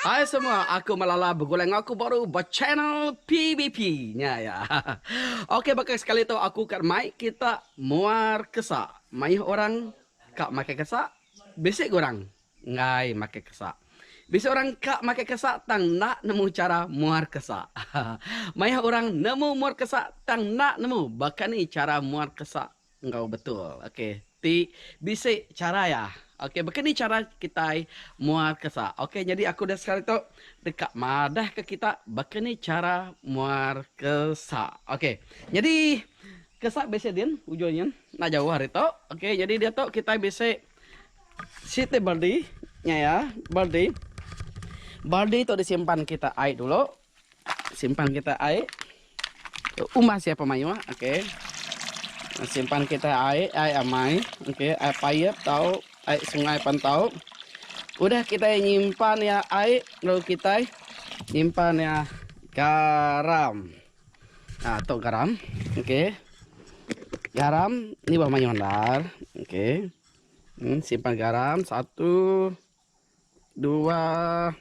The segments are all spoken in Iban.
Hai semua aku Malala begulai enggau aku baru ba channel PBP nya ya. Ok baka sekali tu aku ka mai kita muar kesa maioh orang ka makai kesa bisi ga orang enggai makai kesa bisi orang ka makai kesa tang enda nemu chara muar kesa maioh orang nemu muar kesa tang enda nemu baka ni chara muar kesa Enggau betul. Ok. Ti bisi chara iya. Ok. Baka ni chara kitai muar kesa. Ok. Nyadi aku udah sekali tu deka madah ke kita baka ni chara muar kesa. Ok. Nyadi kesa bisi din ujung nyin. Enda jauh ari tu. Ok. Nyadi diatu kitai bisi siti baldi. Nya iya. Baldi. Baldi tu disimpan kita ai dulu. Simpan kita ai umbah sia pemayuh okey. Simpan kita ai ai amai okey ai payep tau ai sungai pan tau. Udah kita nyimpan ya ai lalu kita nyimpan ya garam. Ha tu garam okey. Garam ni bah mayuh endar okey. Hmm, simpan garam satu. Dua.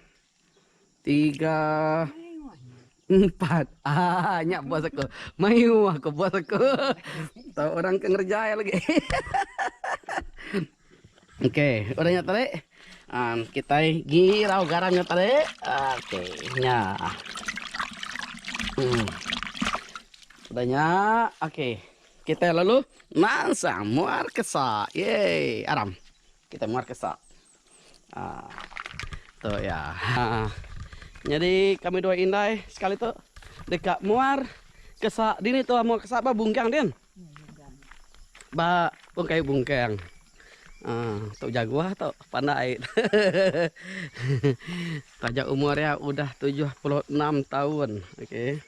Tiga. Empat. Ah, nyak bos aku. Mayu aku bos aku. Tahu orang ke ngerjai lagi. Okey, udah nyak tarik. Um, kita girau garam nyak tarik. Okey, nyak. Hmm. Udah nyak. Okey. Kita lalu mansang muar kesak. Yeay, aram. Kita muar ke sak. Haa. Tu iya. Haa. Nyadi kami dua indai sekali tu deka muar ke sak. Dini tuan muar ke sak ba bungkang din? Ba pun kayu bungkang. Haa. Tu jaguar tu pandai. Taja umur iya udah tujuh puluh enam taun. Okey.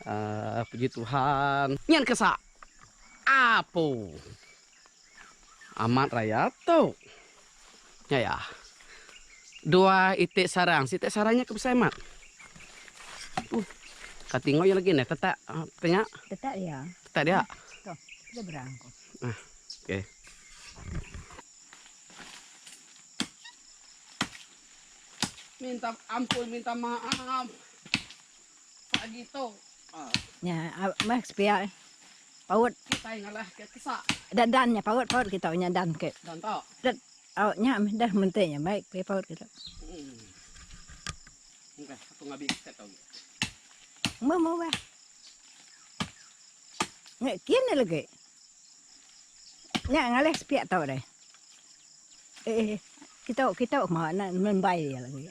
Haa. Puji Tuhan. Nyin ke sak. Apu. Amat rayat tu. Nya iya. Dua iti sarang. Siti sarang nya ke besai amat. Uh. Ka tingau iya lagi ne tetak apa nya? Tetak dia. Tetak dia. Tu. Dia berang ko. Ah. Okey. Minta ampun, minta maaf. Nya meh sepia paut. Da dan nya paut paut kita nya dan ke. Tet au nya meh deh menti nya baik ke paut kita. Meh meh weh. Nge kin ne legi. Nya ngalih sepia tau deh. Eh eh kita kita ma na nembai dia legi.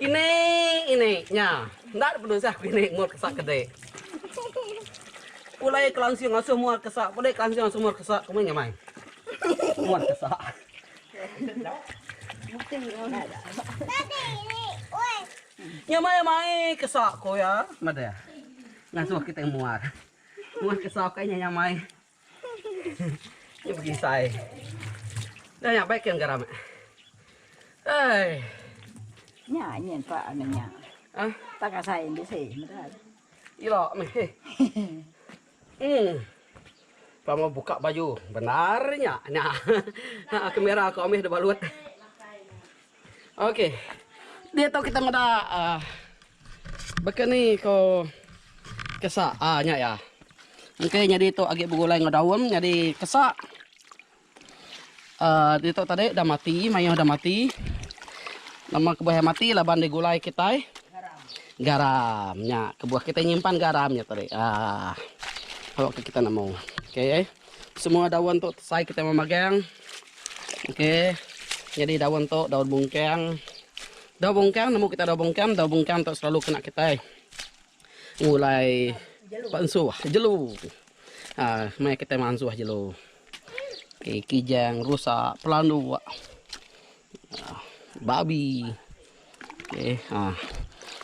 Inik inik nya. Enda ada penusah ku inik mur kesa ke dik. Pulai kelansing asuh muar kesa pulai kelansing asuh muar kesa kumai nya mai. Muar kesa. Nya mai mai kesa ku iya madah ngasuh kitai muar. Muar kesa ukai nya nya mai. Nya begisai. Dah nya baik kan garam. Hai. Nya nya pak anu nya. Ah, ha? tak kasai ni sih. Ilo meh. Hmm. Pama buka baju. Benarnya. Nah. Kamera kau meh dah balut. Okey. Dia tu kita meda uh, baka ni ko kesa ah nya ya. Okey jadi tu agi begulai ngau daun jadi kesa. Uh, dia tu tadi dah mati, mayuh dah mati. Nama kebuah mati laban digulai kita. Garam. Garam nya kebuah kita nyimpan garam nya tadi. Ah. Kalau kita nemu. Okey. Eh. Semua daun tu sai kita memagang. Okey. Jadi daun tu daun bungkang. Daun bungkang nemu kita daun bungkang, daun bungkang tu selalu kena kita ngulai pansuh jelu. Ha, mai kita mansuh jelu. Okey, kijang, rusak, pelandu. Babi. Okey. Ha.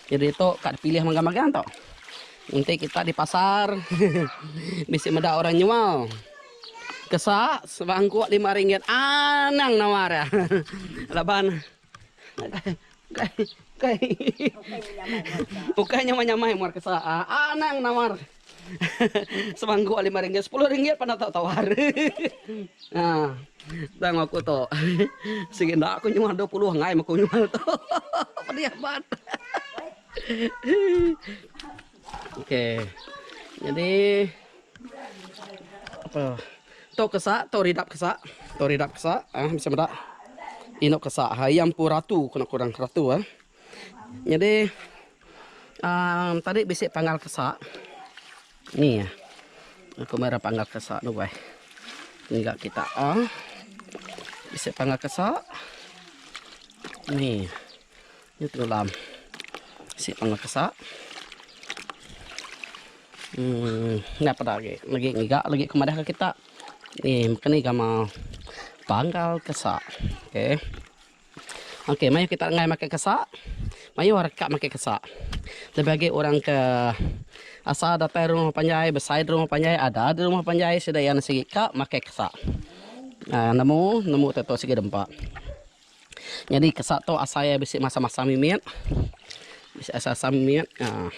Jadi tu kak dipilih magang-magang tu. Nanti kita di pasar bisi meda orang nyual. Kesak sebangkuk lima ringgit. Anang nawa dia. Laban. Ukai. Ukai. Ukai nyamai-nyamai muar kesak. Anang nawa. Semangkuk ai lima ringgit, sepuluh ringgit pan enda tau tawar. Haa. Tang aku tu. Sigi enda aku nyual dua puluh angai meh aku nyual tu. Pedih amat. Okey. Jadi apa? Tu kesa, tu ridap kesa. Tu ridap kesa. Ah, bisa meda. Inuk kesa. Ha, iya empu ratu kena kurang ratu ah. Nyadi aaa tadi bisi panggal kesa ni ya. Aku meh ra panggal kesa duai enggak kita aaa bisi panggal kesa ni ni tulam bisi panggal kesa emm enda peda agi lagi ngiga lagi ku madah ke kita ni meka ni gamal panggal kesa ok. Okey, mayuh kita enggai makai kesak. Mayuh orang ka makai kesak. Lebih agi orang ke asa datai rumah panjai, besai di rumah panjai, ada di rumah panjai sida iya sigi ka makai kesak. Uh, nemu, nemu tu sigi dempa. Jadi kesak tu asai bisi masa-masa mimit. Bisi asa-asa mimit. Uh,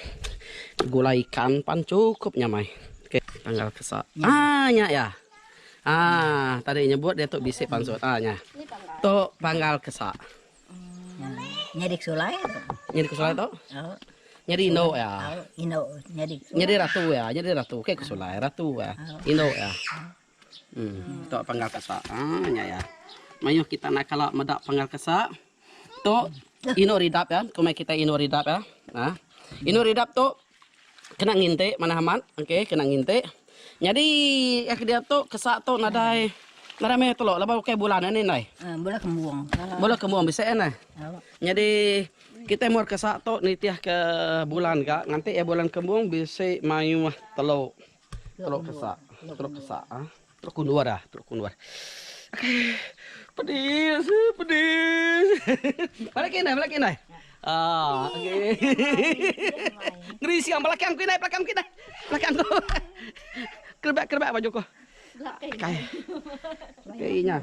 gulai ikan pan cukup nyamai. Okey, tanggal kesak. Ah, nya ya. Aah tadi nyebut diatu bisi pansut aah nya. Tu panggal ke sa. Nyadi ke sulai tu. Nyadi ke sulai tu? Au. Nyadi indu ya. Au, indu nyadi. Nyadi ratu ya, nyadi ratu ke ke sulai ratu ya. Indu ya. Hmm, tu panggal ke sa. Aah nya ya. Mayuh kita naka la meda panggal ke sa. Tu Inu Ridap ya, ke mai kitai Inu Ridap ya. Ha. Inu Ridap tu kena ngintik manah amat, okey, kena ngintik. Nyadi eh ke dia tu kesak tu nadai nadai meh telok laban ukai bulan nya ni ndai. Ha, bola kembung. Bola kembung bisi eh neh. Nyadi kitai mur kesak tu nitih ke bulan ga nganti eh bulan kembung bisi mayuh telok. Telok kesak, telok kesak ha. Teluk Kundur ah, Teluk Kundur. Pedis, pedis. Bala ke indai, bala ke indai. Ah, okey. Ngeri siang bala ke angku indai, bala ke angku indai. Bala ke angku. Kerebak-kerebak baju ku. Belakang. Okey nya.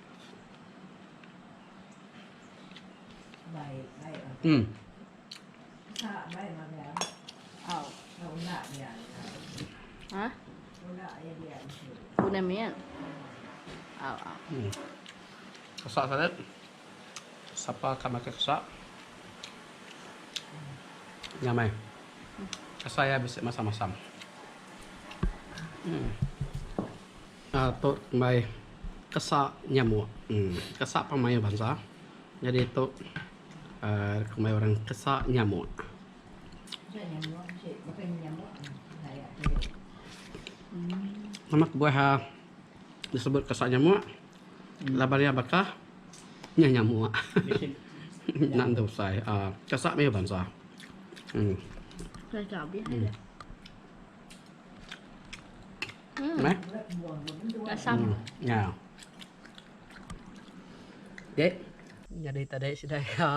Kesak sangat. Sapa ka makai kesak. Nya meh. Rasa iya bisi masam-masam. Tu mbai kesa nyamuk kesa pun mayuh bansa nyadi tu mbai orang kesa nyamuk. Nama kebuah disebut kesa nyamuk laban iya bakah nyah nyamuk enda entu besai kesa mayuh bansa. Hmm. Nah. Masam. Hmm. Ya. Okey. Jadi tadi sudah ya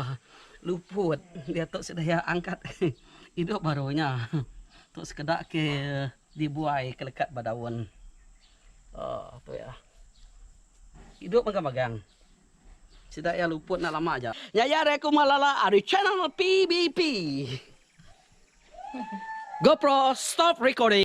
luput dia tu sudah ya angkat hidup barunya. Tu sekedar ke dibuai ke lekat badaun. Oh, tu ya. Hidup magang-magang. Sida ya luput nak lama aja. Nyaya reku malala ari channel PBP. GoPro stop recording.